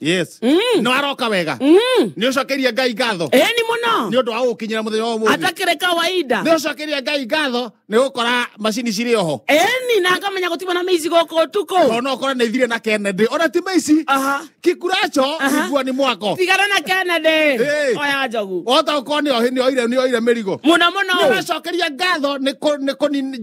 yes Mm. no aroka wega Mm. nä å cokerie ngai ngatho Ĩĩ nĩ mũno nä å ndå wa gå kinyä ra må thenya wa må atakĩrĩ kawaida nä å cokerie ngai ngatho nä gå kora macini cirä oho eni na akamenya gũtirĩ na mĩici gũkũ ũtukũ tondå no kora nä thire na kennedy ona ti maici Aha. kikuracho Aha. igua nä mwako tigana na kennedy Ĩĩ. oya njogu ota å korwo nä oire mä rigo mũno mũno nä å racokeria ngatho nä kå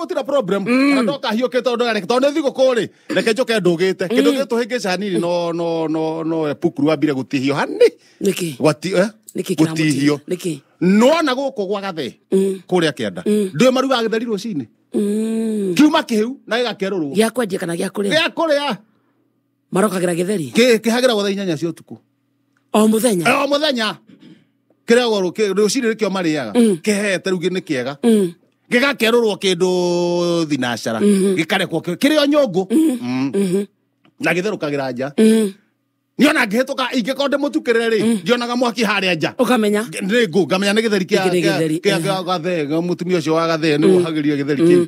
gutira problem mm. na ndoka hiyo kito ndo reke tondu thigo kuri reke njoke ndugite mm. kindu gitu hingi cani no no no no epukuru wa bire gutihio hani niki gwati eh niki gutihio niki no na guku gwa gathe mm. kuri akienda mm. ndu maruga agitheri rucini mm. kiuma kihiu na gigakerurwo gya kwendia kana gya kuria gya kuria marokagĩra gĩtheri Kĩ- kĩhagĩra gwa thaa inyanya cia ũtukũ o mũthenya Eh, o mũthenya kĩrĩagwo rũkĩ- rũcinĩ nĩkĩo marĩaga kĩhete rĩu nĩ kĩega Mm. gĩgakerũrwo kĩndũ thinacara gĩkarekwo kĩ- kĩrĩ o nyũngũ Mm. na gĩtherũkagĩra nja Mm. niona ngĩhĩtũka ingĩkorwo ndĩmũtukĩrĩre rĩ ndionaga mwaki harĩa nja ũkamenya nä ngå ngamenya nä gä theri Gĩkĩ nĩ gĩtheri, eh. gathe mũtumia å cio wa gathe nä wohagä ria gä theri kä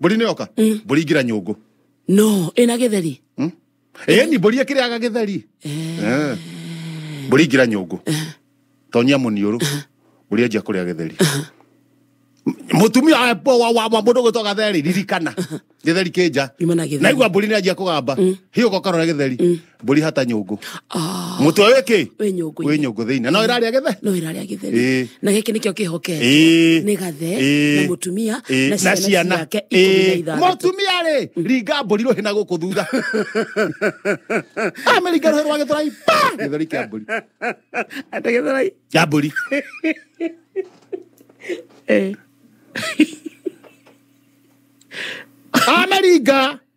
mbũri nĩ yoka Mm. mbũri ingĩra nyũngũ no ĩna gĩtheri ĩni mbũri ĩkĩrĩaga gĩtheri Eh. mbũri ingĩra nyũngũ tonyia mũniũrũ mbũri anjia kũrĩa gĩtheri mũtumia eh, wa- wa wa mũndũ gwĩtwo gatheri ririkana gĩtheri kĩnja Nyuma na gĩtheri. naigua mbũri nĩ anjia kũgamba hiũka ũkarora gĩtheri mburi hata nyungu Ah, mutwe wiki wĩ nyũngũ-inĩ. wi nyungu thiini no iraria githe no ĩrarĩa Ĩĩ. gĩtheri na gĩkĩ nĩkĩo kĩhoke Ĩĩ. nĩ gathe Ĩĩ. na mũtumia Ĩĩ. na ciana ciake ikũmi na Ĩĩ. ithathatũ mũtumia rĩ ringa mburi rũhĩ na gũkũ thutha amĩringa rũhĩ rwa gĩtũrai pa gĩthũri kĩa mburi ategethera kĩa mburi amĩringa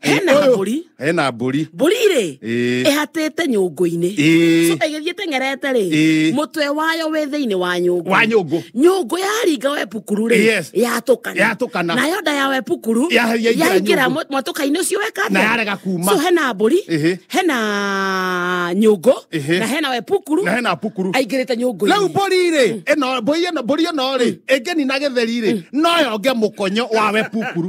hena Ũyũ- mbũri hena mbũri mbũri rĩ Ĩĩ. ĩhatĩte nyũngũ-inĩ Ĩĩ. So, ĩgĩthiĩ teng'erete rĩ Ĩĩ. mũtwe wayo wĩ thĩinĩ wa nyũngũ Wa nyũngũ. nyũngũ yaringa wepukuru rĩ Yes. yatũkana Yatũkana. nayo nda ya wepukuru Ya- yaingĩra yaingĩra nyũngũ. mũ- mwatũka-inĩ ũcio weka atĩa? Na yarega kuma. so hena mbũri Ĩhĩ. hena nyũngũ Ĩhĩ. na hena wepukuru na hena pukuru aingĩrĩte rä u nyũngũ-inĩ mbåri rä ä mbåri ä no mbåri ä no rä ä ngä nina gä theri rä no yonge må konyo wa we pukuru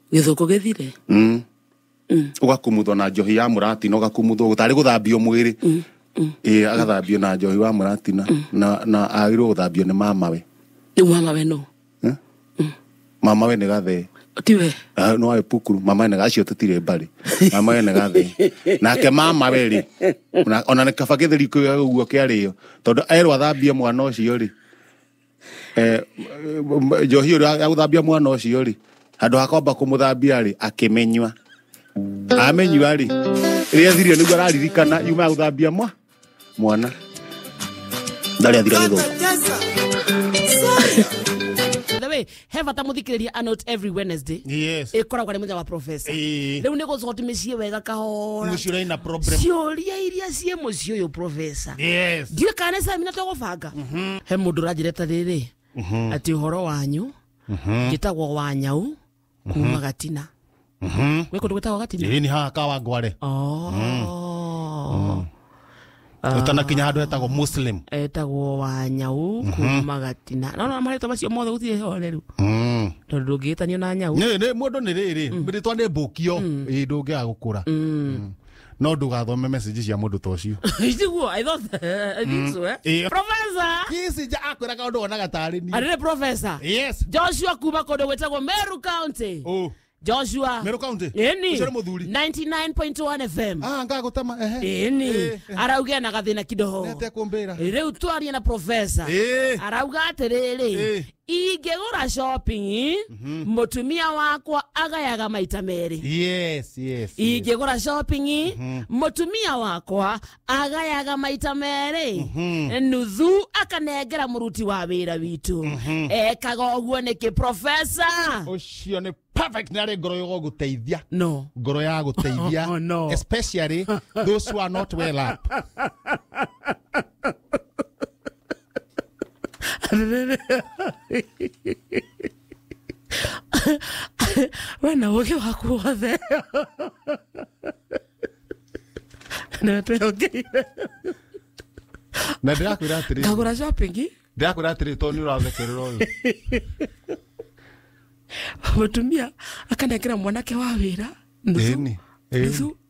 gĩthũkũ gĩthire Mm. ũgakumuthwo na njohi ya mũratina ũgakumuthwo tarĩ gũthambio mwĩrĩ ĩĩ agathambio na njohi wa mũratina na na agĩrĩirwo gũthambio nĩ mamawe rĩu mama we no Eh? mamawe nĩ gathee tiwe Ah, no awe pukuru mamawe nĩ gacio tũtirĩ mbarĩ mamawe nĩ gathee nake mamawe rĩ ona- ona nĩ kaba gĩtheri kĩoya ũguo kĩarĩo tondũ erwo athambie mwana ũcio rĩ Eh, m- njohi ũrĩa ya gũthambia mwana ũcio rĩ handũ ha kwamba kũmũthambia rĩ akĩmenyua amenyua rĩ rĩrĩa thirio nĩguo araririkana yuma ya gũthambia mwa mwana ndarĩ athira gĩthũngũ the way he bata mũthikĩrĩria anot every wednesday yes ĩkoragwo arĩ mũthenya wa profesa Ĩĩ. rĩu nĩ gũcoka tũmĩciĩ wega kahora mũciĩ ũrĩ na problem ciũria iria ciĩ mũciĩ ũyũ profesa yes ndiä kana nä camina tå gå banga he må ndå å ranjä reta rä rä atä å horo wanyu njä tagwo wa nyau kuma gatina Mhm. gwä kå ndå gwä tagwo gatini Ĩĩ, nĩ haha kawa ngware Oh. ũtanakinya handũ hetagwo muslim etagwo wa nyau kuma gatina nona marĩtwa macio mothe gũtirĩ horeru Mm. tondũ ndũngĩgĩtanio na nyau Nĩ- nĩ- mũndũ nĩ rĩrĩ rĩtwa nĩ mbũkio ĩ ndũngĩga gũkũra Mm. no ndũgathome message cia mũndũ ta ũcio Isiguo, I thought, I think so, eh? Ĩyo. Professor! kisinja akwĩra kaũndũ wonaga tarĩ niĩ Arĩrĩ professor. yes Joshua kuma kũndũ gwĩtagwo Meru County. oh Joshua. Meru County? Ĩni. Ũcio nĩ mũthuri? 99.1 FM. ah ngagũtama ehe Ĩni. Eh, eh. Arauga na gathĩna kidogo. nete kũmbĩra Rĩu twaria na professor. Eh. Arauga atĩrĩrĩ, Eh. ingĩgũra shopping Mhm. mũtumia wakwa agayaga maita merĩ yes yes, yes. ingĩgũra shopping Mhm. mũtumia wakwa agayaga maita merĩ Mhm. nuthu akanengera mũruti wa wĩra witũ Mhm. ekaga ũguo nĩkĩ profesa ũcio nĩ perfect nĩ arĩ ngoro ya gũteithia no ngoro ya gũteithia Oh, no. especially those who are not well up we na ũgĩ waku wothe nĩwe twĩhongeire na ndĩrakwĩra atĩrĩ ngagũra shopping ndĩrakwĩra atĩrĩ tondũ nĩ ũrathekerera ũyũ mũtumia akanengera mwanake wa wĩra nuthu Ĩni, ĩni. nuthu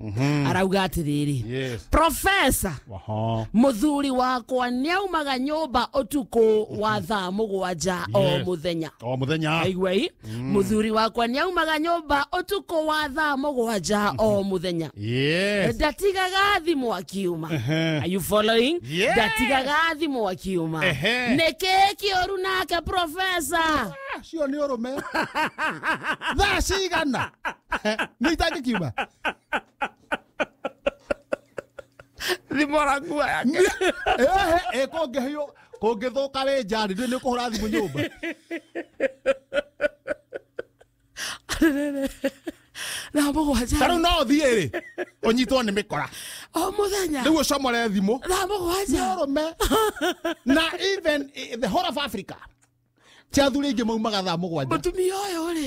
Mhm. arauga atiriri Yes. profesa Aha. muthuri wakwa niaumaga nyumba utuku wa thaa mugwanja o Yes. muthenya O muthenya. aigua i muthuri wakwa niaumaga nyumba utuku wa thaa mugwanja o muthenya Yes. ndatigaga thimũ akiuma Ehe. Are you following Yes. ndatigaga thimũ akiuma Ehe. nĩkĩ kĩũru nake profesa Cio nĩ ũrũme. Thaa cigana? no ithaa kikiuma thimo rakua yake ehe kũngĩhĩo kũngĩthũka wĩ njari ndĩ nĩ kũhũra thimũ nyũmba na mũgwanja tarĩu no ũthiĩ rĩ ũnyitwo nĩ mĩkora o mũthenya rĩu ũcomore thimũ na mũgwanja ũrũme na even eh, the whole of africa cia athuri aingĩ maumaga thaa mũgwanja mũtumia ũyũ rĩ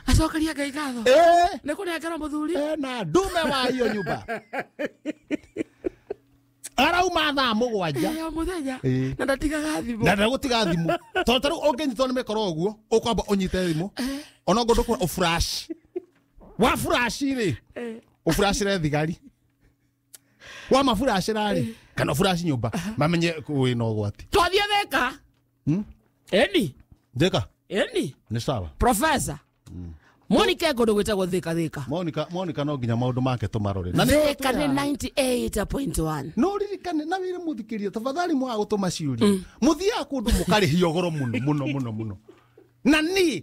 acokeria ngai ngatho Eh, nĩ kũnengera mũthuri eh, na ndume wa iyo nyumba arauma thaa mũgwanja ya mũthenya Eh. na ndatigaga thimũ na ndagũtiga thimũ tondũ tarĩu ũngĩnyitwo nĩ mĩkoro ũguo ũkwamba ũnyite thimũ ona ngũndũ kũra ũfurashi wa furashi rĩ Eh. ũfurashĩre thigari wa mafurashĩra rĩ kana ũfurashi nyũmba mamenye wĩna ũgwati twathiĩ thĩka Hmm? eni Thika. eni Ni sawa. profesa monica kundu gwitagwo thika thika Monica Monica no nginya maundu make tumarore. Na nĩwe thika twĩra- nĩ 98.1 no ririkane na wĩre mũthikĩria tafadhali mwaga gũtũma ciũria mũthiaga kũndũ mũkarĩhio goro mũno mũno mũno mũno na niĩ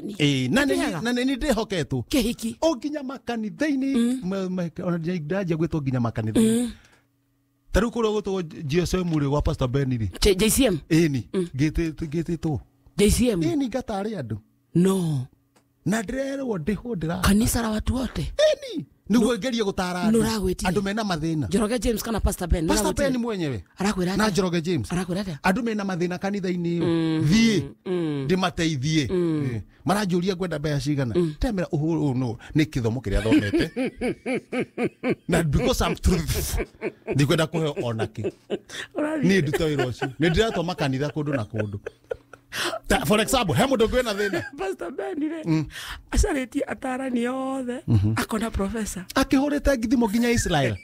ni Eh, na nĩ- Kĩhega. na nĩ nĩ ndĩhoketwo kĩhiki o nginya makanitha-inĩ ma- ma- ona nginya- ndanjia gwĩtwo nginya makanitha-inĩ ta rĩu kũrĩa gwĩtagwo gsm rĩ gwa pastor ben rĩ J- jcm ĩni ngĩtĩtwo jcm ĩni ngatarĩ andũ no na ndĩrerwo ndĩhũ ndĩra kanisa la watu wote ĩni niguo ngerie gutara andũ Nũragwĩtiria. andũ mena mathĩna njoroge james kana pastor ben pastor Nĩwagwĩtiria? ben mwenyewe arakwĩra na atĩa? njoroge james arakwĩra atĩa? andå mena mathĩna kanitha-inĩ ũyũ thiĩ ndĩmateithie Eh, maranjũria ngwenda mbeca cigana ndamera ũhũrũ no nĩ kĩthomo kĩrĩa thomete na because I'm truthful ndikwenda kũheo onakĩ Ũrathiĩ. niä nduta wä ra å cio nä ndä ratwa makanitha kå ndå na kå ndå Ta- for example he mundu ngwina thina pastor ben rä Mm. acarä tie atarani othe akona profesa akihurite ngithimo nginya israel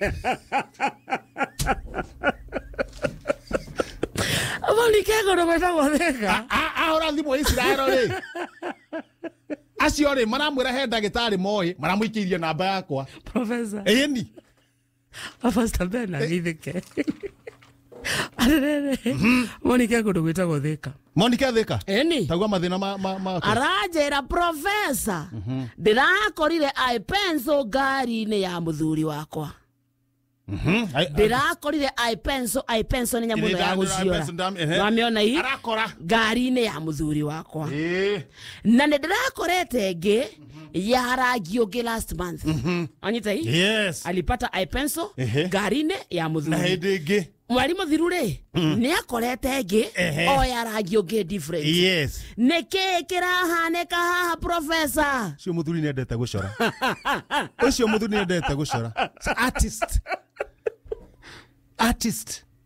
malikego na gwetagwo theka A- ahora thimo israel ri acio ri maramwira he ndagitari moyi maramuikiirie namba yakwa profesa eni abasta ben agithike arerere monike kundu gwitagwo thika monike athika eni tagua mathina ma ma ma aranjĩra profesa ndĩrakorire aĩ penso ngari-inĩ ya mũthuri wakwa ndĩrakorire aĩ penso aĩ penso nĩ nyamũ ĩno ya gũciora wamĩona hii arakora ngari-inĩ ya mũthuri wakwa eh na nĩ ndĩrakorete ngĩ ya rangi ũngĩ last month anyita hii yes alipata ipenso Ehe. ngarinĩ ya na mũthuri hĩndĩ ĩngĩ mwarimũ thiru rĩ nĩ akorete ĩngĩ Ehe. o ya rangi ũngĩ different yes nĩ kĩĩ kĩrahanĩka haha profesa ũcio mũthuri nĩ endete gũcora ũcio mũthuri nĩ endete gũcora It's artist artist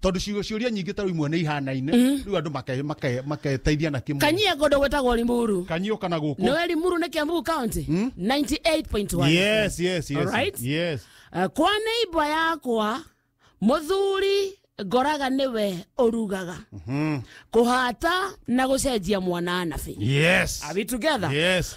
tondu ciugo ciuria nyingi ta imwe ni ihanaine riu andu make make maketeithia na kimwe kanyia godo gwetagwo limuru kanyio kana guku nowe limuru ni kiambu county 98.1 yes yes yes Alright. yes Eh, kwa neighbor yakwa muthuri ngoraga niwe urugaga kuhata na gucenjia mwana anabi yes are we together yes